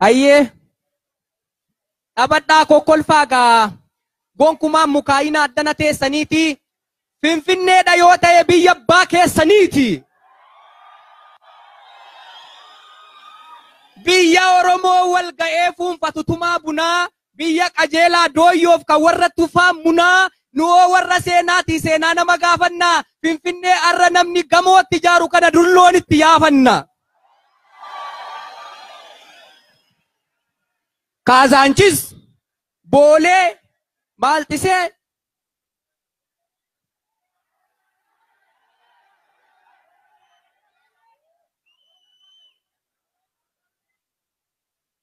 Ayyee dhabadhaa kokkolfaa gaa gonkumaan mukaayina addana teessaniiti finfinneedha yoo ta'e biyya abbaa keessaniiti. Biyya Oromoo wal ga'ee fuunfatu tumaa bunaa Biyya qajeelaa dooyyoof kan warra tufaa munaa Nu'oo warra seenaati seenaa nama gaafanna Finfinnee har'a namni gamoo itti ijaaru kana dulloon itti yaafanna Kaazaanchis, Boolee, Maalxisee,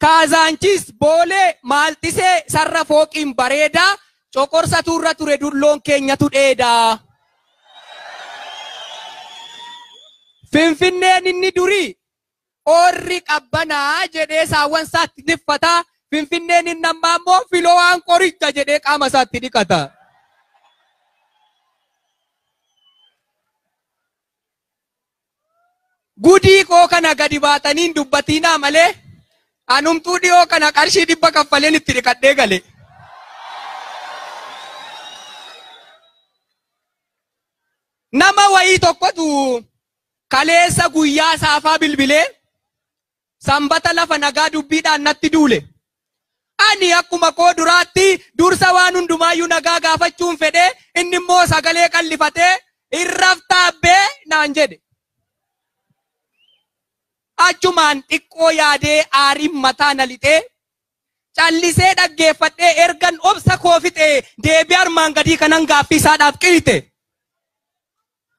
Kaazaanchiis, Boolee, Maaltisee, Sarra fooqiin bareedaa, Coqorsatu irra ture dulloon keenyatu dheedaa. Finfinneen inni durii oorri qabbanaa jedhee saawwan isaatti tiffata, Finfinneen inni ammaa immoo filowaan qoricha jedhee qaama isaatti dhiqata. Gudii koo kana gadi baatanii hin dubbatiinaa malee anumtuu dhiyoo kana qarshii dhibba kaffaleen itti dhiqadhee gale. Nama wayii tokkotu kaleessa guyyaa saafaa bilbilee Sanbata lafa nagaa dubbiidhaan natti duule. Ani akkuma koo duraatti dursa waan hundumaayyuu nagaa gaafachuun fedhe, inni immoo sagalee qal'ifatee, Hin raftaa abbee? naan jedhe. Achumaan xiqqoo yaadee aariin mataa na lixee, callisee dhaggeeffadhee ergan obsa koo fixee deebii armaan gadii kanan gaaffii isaadhaaf qiyite.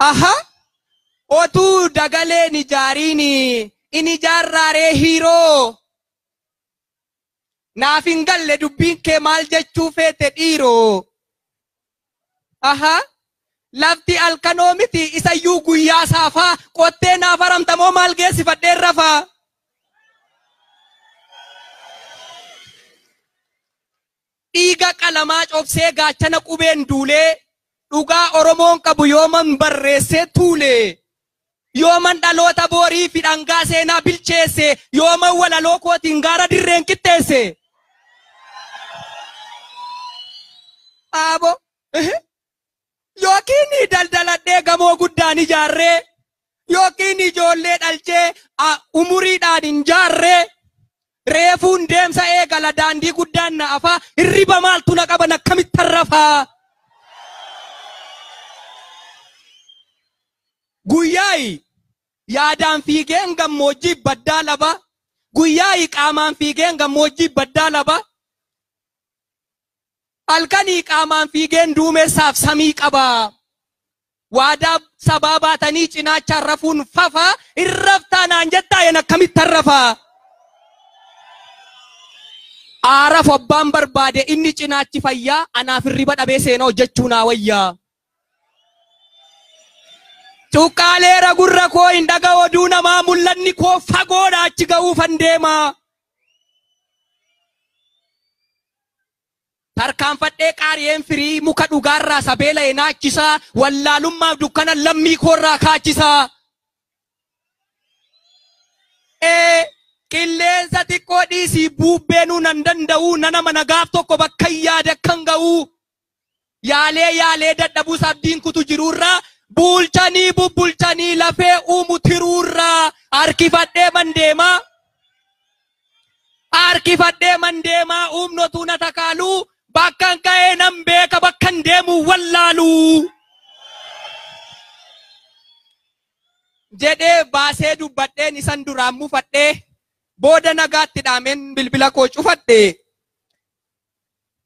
Aha otuu dagalee hin ijaariin in ijaarraa ree hiiroo? Naaf hin galle dubbiin kee maal jechuu feete dhiiroo? Aha lafti alkanoo miti isayyuu guyyaa saafaa qottee naaf haramta moo maal geessifadheen rafaa? Dhiiga qalamaa cobsee gaachana qubeen duulee Dhugaa Oromoon qabu yooman barreessee tuule Yooman dhaloota boorii fi dhangaa seenaa bilcheesse Yooman walaloo kootiin gaara dirreen qixxeesse Aabo Yookiin daldaladhee gamoo guddaan ijaarree yookiin ijoollee dhalchee a- umuriidhaan hin jaarree reefuun deemsa eegala daandii guddaan na afaa hirriba maaltu na qaban akkamittan rafaa guyyaa'i yaadaan fiigeen gammoojjii baddaa laba guyyaa'i qaamaan fiigeen gammoojjii baddaa laba Halkanii qaamaan fiigeen duumessaaf samii qaba. Waadaa sabaa baatanii cinaachaan rafuun fafa hin raftaa naan jettaa yen akkamittan rafa. Aaraf abbaan barbaade inni cinaachi fayyaa anaaf hirriba dhabee seenaa hojjechuu naa wayyaa. Cuqqaaleera gurra koo hin dhaga oduu namaa mul'anni koo fagoodha achi ga'uufan deema. Tarkaanfadhee qaari'een firii muka dhugaarraa sa beela'e naachisa, wallaalummaaf dukkana lammii koorraa kaachisa. e Qilleensa xiqqoo dhiisii buubbeenuu nan danda'uu, nan amana gaaf tokko bakkan yaade akkan ga'uu. Yaalee yaalee dadhabus abdiin kutu jiruurra Buulchanii bubbulchanii lafee uumu tiruurra Harkifadhee man deemaa Harkifadhee man deemaa uumnotuu na takaalu Bakkan ka'ee nan beeka bakkan deemu wallaalu Jedhee baasee dubbadheen isan duraan mufadhee Booda nagaatti dhaameen bilbila koo cufadhe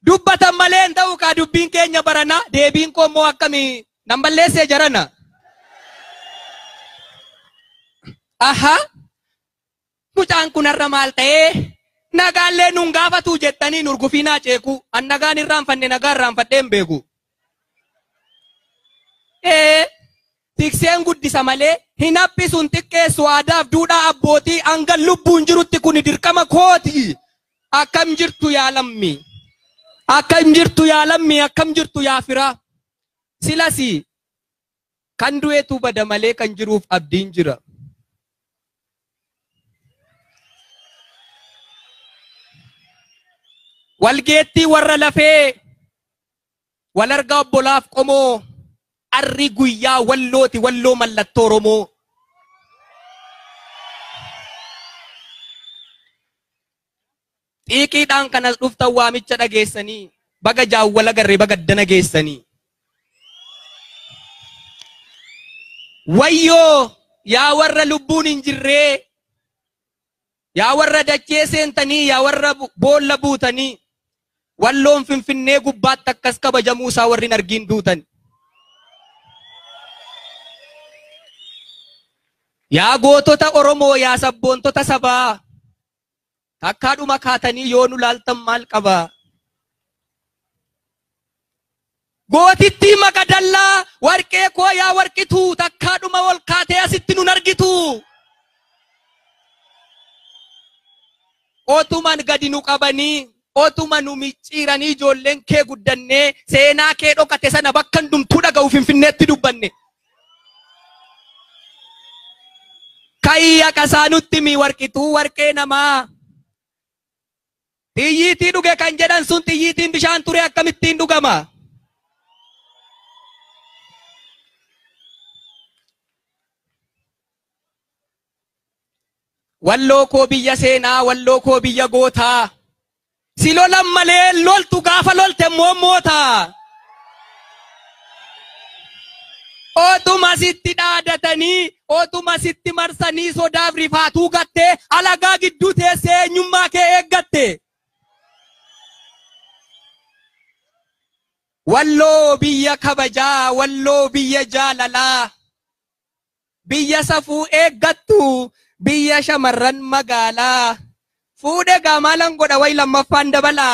Dubbatan malee hin ta'u kaa dubbiin keenya barana deebiin koo immoo akkami nan balleessee jarana. Aha mucaan kun har'a maal ta'ee nagaallee nun gaafatuu jettanii nurgufiinaa ceekuu an nagaan irraanfanne nagaa irraanfadhee hin beeku. Ee Tikseen guddisa malee hin haphisu hin xiqqeessu aadaaf duudhaa abbootii hangan lubbuun jirutti kuni dirqama kooti akkam jirtu yaa lammii akkam jirtu yaa lammii akkam jirtu yaa firaa silasi kan du'etu bada malee kan jiruuf abdiin jira walgeettii warra lafee Wal argaa obbolaaf qomoo Arri guyyaa wallooti walloo mallattoo Oromoo. Xiiqiidhaan kan as dhuftan waamicha dhageessanii baga jaawwal agarre baga addana geessanii. Wayyoo yaa warra lubbuun hin jirree Yaa warra dachee seentanii, yaa warra boolla buutanii, Walloon Finfinnee gubbaatti akkas kabajamuu isaa warri hin argiin duutan. Yaa gootota Oromoo, yaa sabboontota sabaa, takkaadhuma kaatanii yoo nu laaltan maal qabaa? Gootittii Maqadallaa, Warqee koo yaa Warqituu, Takkaa dhuma ol kaatee asitti nun argituu. Otuman gadi nu qabanii, Otuma nu micciiranii ijoolleen kee guddannee, Seenaa kee dhokate sana bakka hundumtuu dhaga'u Finfinneetti dubbanne. Ka'ii haqasaa nutti himi Warqituu warqee namaa. Xiyyiitii dhuge kan jedhan sun xiyyiitiin bishaan ture akkamittiin dhugama? Walloo koo biyya seenaa, walloo koo biyya gootaa. Si lolan malee loltu gaafa lolte immoo moota. Otuma sitti dhaadatanii, otuma sitti marsanii sodaaf rifaatuu gattee, alagaa gidduu teessee eenyummaa kee eeggatte. Walloo biyya kabajaa, walloo biyya jaalalaa. Biyya safuu eeggattu biyya shamarran magaalaa Fuudhe gaa maalan godha way lammaffaan dabala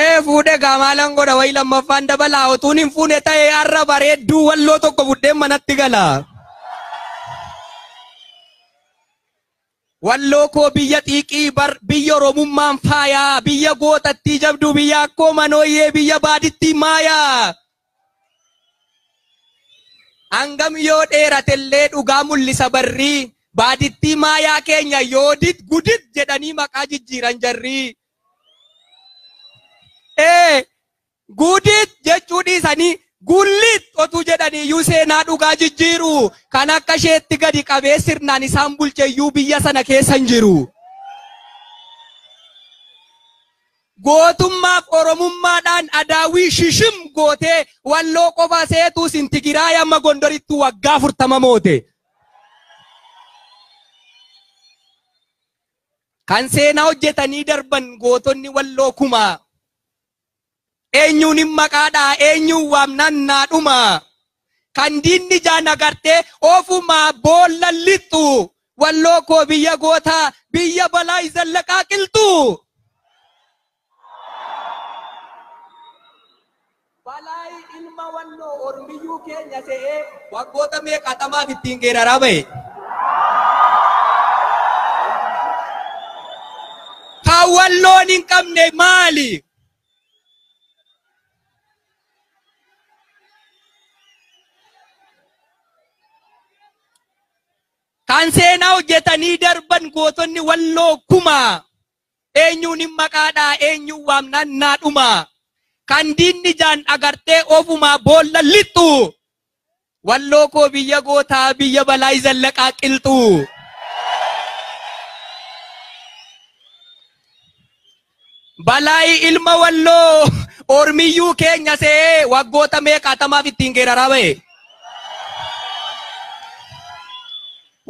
Ee fuudhe gaa maalan godha way lammaffaan dabala otuun hin fuune ta'e har'a bareedduu walloo tokko fudheen manatti gala. Walloo koo biyya xiiqii bar biyya oromummaan faayaa biyya gootattii jabduu biyya akkoo manooyyee biyya baadittii maayaa. Hangam yoo dheeratellee dhugaa mul'isa barrii baadittii maayaa keenya yoodit gudit jedhanii maqaa jijjiiran jarrii. Ee Guudiit jechuu dhiisanii Guulliit otuu jedhaniiyyuu seenaa dhugaa jijjiiru. Kan akka isheetti gadi qabee sirnaan isaan bulcheyyuu biyya sana keessa hin jiru. Gootummaaf Oromummaadhaan Adaawwii shishim gootee Walloo qofa seetuu sin Tigiraay amma Gondorittuu waggaa 40 moote. Kan seenaa hojjetanii darban gootonni Walloo kumaa. Eenyuunin maqaa dha'a, eenyuun waamnaan naa dhuma? Kan diinni ijaan agartee, ofumaa boollan lixxu! Walloo koo biyya gootaa, biyya Balaay Zallaqaa qilxu! Balaay ilma Walloo ormiyyuu keenya se'ee, waggoota meeqaatamaaf ittiin geeraraa ba'e. Kan walloon hin qabne maali? Kan seenaa hojjetanii darban gootonni walloo kuma eenyuun hin maqaadhaa eenyuun waamnaan naadhuma kan diinni jaan agartee ofumaa boolla lixxu Walloo koo biyya gootaa biyya Balaay Zallaqaa Qilxuu. Balaay ilma Walloo ormiyyuu keenya se'ee waggoota meeqaatamaaf ittiin geeraraa ba'e.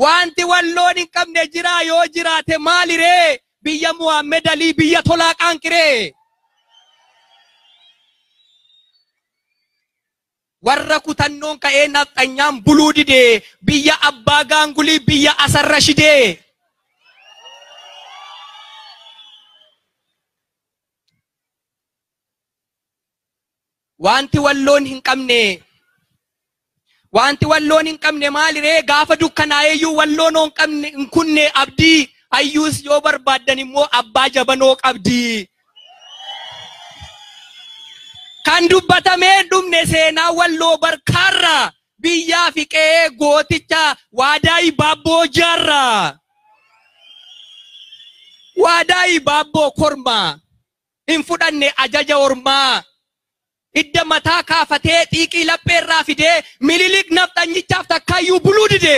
Wanti Walloon hin qabne jiraa yoo jiraate maali ree? Biyya Muhammad Alii biyya tolaa qaanqiree. Warra kutannoon ka'ee nafxanyaan buluu dide biyya abbaa gaangulii biyya Asan Rashidee. Waanti walloon hin qabne Waanti walloon hin qabne maaliree gaafa dukkanaa'eeyyuu walloon hin qabne hin kunne abdii hayyuus yoo barbaaddan immoo abbaa jabanoo qabdi Kan dubbatamee hin dhumne seenaa walloo barkaarraa biyyaa fi qe'ee gooticha waadaa ibaabboo jaarraa. Waadaa ibaabboo kormaa hin fudhanne ajaja ormaa. Hidda mataa kaafatee xiiqii laphee irraa fidee Minilik nafxanyichaaf takkaayyuu buluu dide.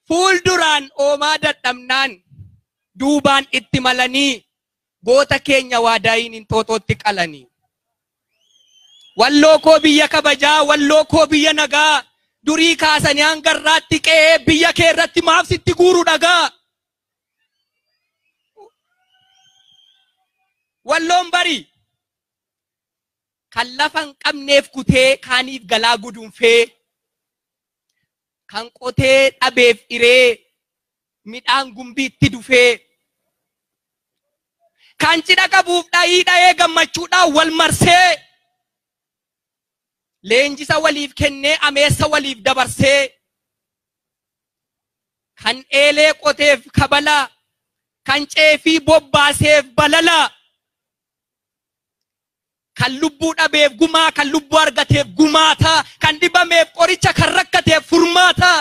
Fuulduraan oomaa dadhabnaan duubaan itti malanii goota keenya waadaayiin Inxooxootti qalani. Walloo koo biyya kabajaa, walloo koo biyya nagaa durii kaasanii hanga har'aatti qe'ee biyya kee irratti maaf sitti guuru dhagaa? Walloon barii kan lafa hin qabneef kutee kaaniif galaa gudunfee kan qotee dhabeef iree midhaan gumbiitti dufee kan cidha qabuuf dhayii dhayee gammachuudhaan wal marsee leenjisa waliif kennee ameessa waliif dabarsee kan eelee qoteef kabala kan ceefii bobbaaseef balala kan lubbuu dhabeef gumaa kan lubbuu argateef gumaata kan dhibameef qoricha kan rakkateef furmaata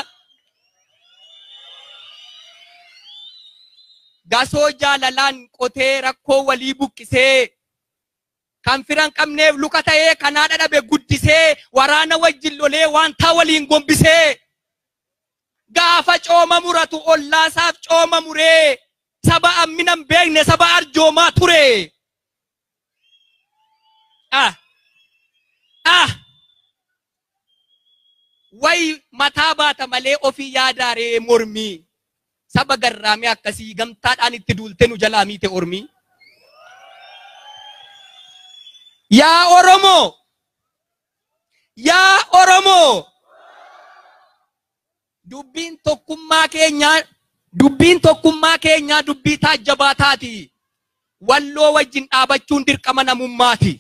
gasoo jaalalaan qotee rakkoo walii buqqisee Kan fira hin qabneef luka ta'ee, kan haadha dhabe guddisee, waraana wajjin lolee, waantaa waliin gombisee. Gaafa cooma muratu ollaasaaf cooma muree, saba hammina hin beekne saba arjoomaa ture. Ah! Ah! Wayi mataa baata malee ofii yaadaa ree mormii saba garraamii akkasii gamtaadhaan itti duultee nu jalaa miite ormii. Yaa Oromoo! Yaa Oromoo! Dubbiin tokkummaa keenyaa Dubbiin tokkummaa keenyaa dubbii taajjabaa taati. Walloo wajjin dhaabachuun dirqama namummaati.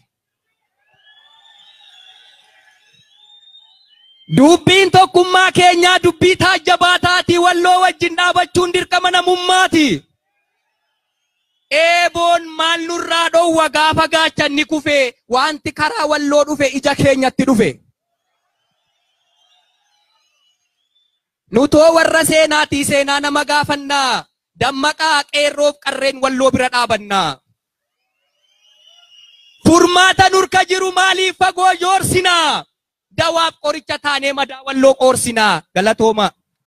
Dubbiin tokkummaa keenyaa dubbii taajjabaa taati. Walloo wajjin dhaabachuun dirqama namummaati. Eeboon maal nurraa dhoowwa gaafa gaachanni kufe wanti karaa walloo dhufe ija keenyatti dhufe. Nutoo warra seenaatii seenaa nama gaafanna. Dammaqaa qeerroof qarreen walloo bira dhaabanna. Furmaata nurka jiru maaliif fagoo joorsina? Dawaaf qoricha taanee madaa walloo qoorsina. Galatoomaa.